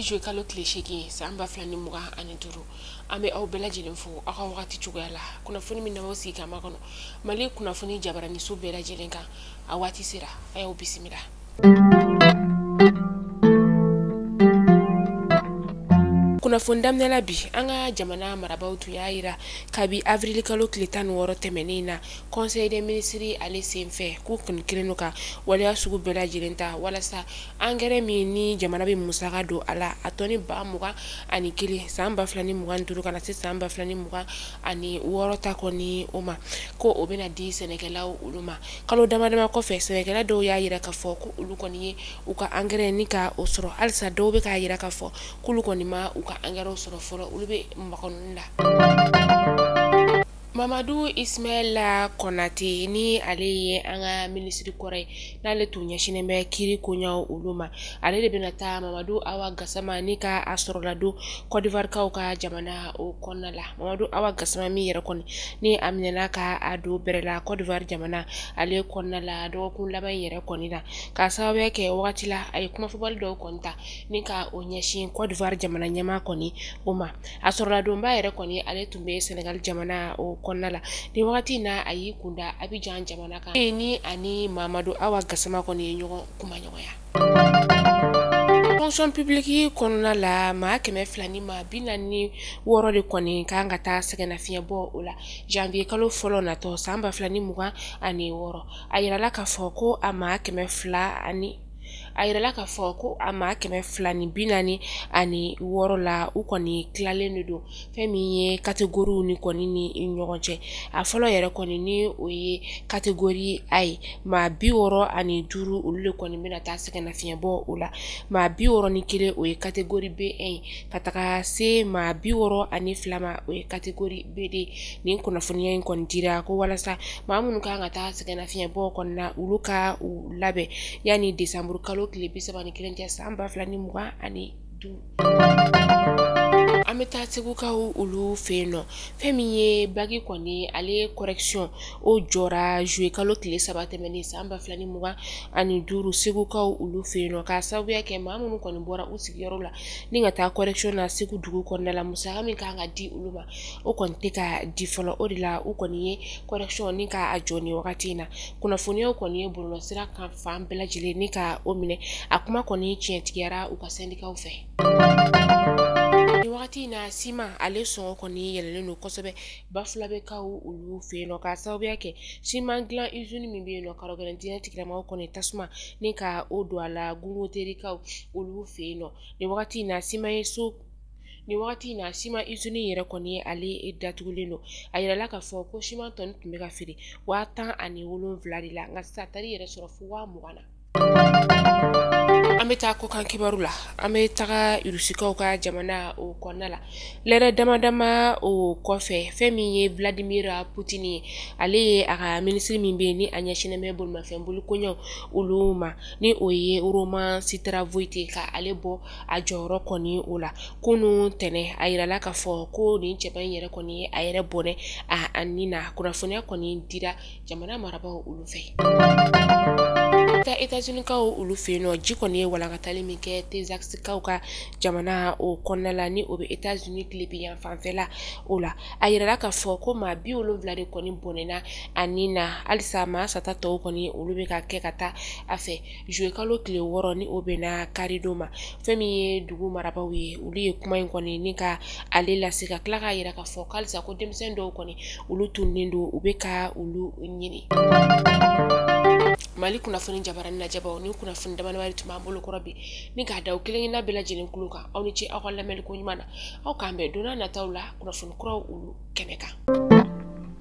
zuwe kalo tile seegin san ba fila ni mugan ani duuru an bɛ aw bɛɛ lajɛlen fo aw ka wagati cogoya la kunnafoni min na aw sigi k'a makɔnɔ mali kunnafoni jabaraniso bɛɛ lajɛlen kan a waati sera a y'aw bisimila kunnafoni daminɛ la bi an ka jamana marabaw tun y'a yira kabi avrili kalo tile tan ni wɔɔrɔ tɛmɛnen na conseil des ministres ale senfɛ k'u kɔni kɛlen don ka waleya sugu bɛɛ lajɛlen ta walasa angɛrɛ min ni jamana bɛ musaka don a la a tɔni ba mugan ani kelen san ba fila ni mugan ni duuru ka na se san ba fila ni mugan ani wɔɔrɔ ta kɔni o ma ko o bɛna di sɛnɛkɛlaw olu ma kalo damadama kɔfɛ sɛnɛkɛla dɔw y'a yira k'a fɔ ko olu kɔni ye u ka angɛrɛ ni ka o sɔrɔ halisa dɔw bɛ k'a yira k'a fɔ k'olu kɔni ma u ka angɛrɛw sɔrɔ fɔlɔ olu bɛ makɔnɔni la mamadu ismaila kɔnate ni ale ye an ka minisiri kɔrɔ ye n'ale tun ɲɛsinnen bɛ kiri koɲaw olu ma ale de bɛna taa mamadu awa gasama ni ka a sɔrɔladon kɔdiwarikaw ka jamana o kɔnɔna la mamadu awa gasama min yɛrɛ kɔni ni a minɛna ka a don bɛrɛ la cote d'ivoire jamana ale kɔnɔna la dɔgɔkun laban in yɛrɛ kɔni na k'a sababuya kɛ wagati la a ye kumafɔbali dɔw kɔni ta ni ka o ɲɛsin cote d'ivoire jamana ɲɛmaa kɔni o ma a sɔrɔladonba yɛrɛ kɔni ale tun bɛ senegal jamana o kɔnɔna la ni wagati in na a y'i kunda abijan jamana kan ni ani mamadu awa gasama kɔni ye ɲɔgɔn kumaɲɔgɔnya fonction publique kɔnɔna la maa kɛmɛ fila ni maa bi naani ni wɔɔrɔ de kɔni kan ka taa sɛgɛnnafiɲɛ bɔ o la janvier kalo fɔlɔ natɔ san ba fila ni mugan ani wɔɔrɔ a yirala k'a fɔ ko a maa kɛmɛ fila ani a yirala k'a fɔ ko a maa kɛmɛ fila ni bi naani ani wɔɔrɔ la u kɔni tilalen de don fɛn min ye kategoriw ni kɔni ni ɲɔgɔn cɛ a fɔlɔ yɛrɛ kɔni ni o ye kategori a ye maa bi wɔɔrɔ ani duuru olu de kɔni bɛna taa sɛgɛnnafiɲɛ bɔ o la maa bi wɔɔrɔ ni kelen o ye kategori b un ye ka taga se maa bi wɔɔrɔ ani fila ma o ye kategori b deux nin kunnafoniya in kɔni dira ko walasa maa minnu kan ka taa sɛgɛnnafiɲɛ bɔ kɔni na olu ka u labɛn yanni desanburu kalo tile bi saba ni kelen cɛ san ba fila ni mugan ani an bɛ taa segukaw olu fɛ yen nɔ fɛn min ye baki kɔni ale kɔrɛsiyɔn o jɔra zuwe kalo tile saba tɛmɛnen san ba fila ni mugan ani duuru segukaw olu fɛ yen nɔ k'a sababuya kɛ maa minnu kɔni bɔra u sigiyɔrɔ la ni ka taa kɔrɛsiyɔn na segu dugu kɔnɔna la musaka min kan ka di olu ma o kɔni tɛ ka di fɔlɔ o de la u kɔni ye kɔrɛsiyɔn ni k'a jɔ ni wagati in na kunnafoniyaw kɔni ye bɔlɔlɔsira kan fan bɛɛ lajɛlen ni ka o minɛ a kuma kɔni tiɲɛtigiyara u ka sɛndikaw fɛ nin wagati in na siman ale sɔngɔ kɔni yɛlɛlen don kosɛbɛ bafulabekaw olu fɛ yen nɔ k'a sababuya kɛ siman dilan izini min bɛ yen nɔ karɔgɛlɛn diinɛ tigilamɔgɔw kɔni tasuma ni ka o don a la gangoterikaw olu fɛ yen nɔ nin wagati in na siman ye so nin wagati in na siman izini in yɛrɛ kɔni ale datugulen don a yirala k'a fɔ ko siman tɔni tun bɛ ka feere waa tan ani wolonwula de la nka sisan a taar'i yɛrɛ sɔrɔ fo waa mugan na an bɛ taa kɔkan kibaru la an bɛ taga irusikaw ka jamana o kɔnɔna la lɛrɛ dama dama o kɔfɛ fɛn min ye vladimir putin ye ale ye a ka minisiri min bɛ yen ni a ɲɛsinnen bɛ bolimafɛn bolikoɲɛw olu ma ni o ye roman starovoit ka ale bɔ a jɔyɔrɔ kɔni o la kunun tɛnɛn a yirala k'a fɔ ko nin cɛba in yɛrɛ kɔni ye a yɛrɛ bɔnɛ a ni na kunnafoniya kɔni dira jamana marabaaw olu fɛ etazinikaw olu fɛ yen nɔ ji kɔni ye walankatali min kɛ tezakisikaw ka jamana o kɔnɔna la ni o bɛ etazini tilebin yanfan fɛla o la a yirala k'a fɔ ko maa bi wolonwula de kɔni bɔnɛna a ni na halisa maa sata tɔw kɔni olu bɛ ka kɛ ka taa a fɛ juye kalo tile wɔɔrɔ ni o bɛnna karidon ma fɛn min ye dugu marabaaw ye olu ye kuma in kɔni ni ka ale lase ka tila k'a yira k'a fɔ halisa ko denmisɛn dɔw kɔni olu tununnen don u bɛ ka olu ɲini mali kunnafoni jabaranin lajɛbaw nin kunnafoni damadamanin tun b'an bolo kɔrɔ bi ni k'a da aw kelenkelenna bɛɛ lajɛlen kulo kan aw ni ce aw ka lamɛnliko ɲuman na aw k'an bɛn donna nataw la kunnafoni kuraw olu kɛnɛ kan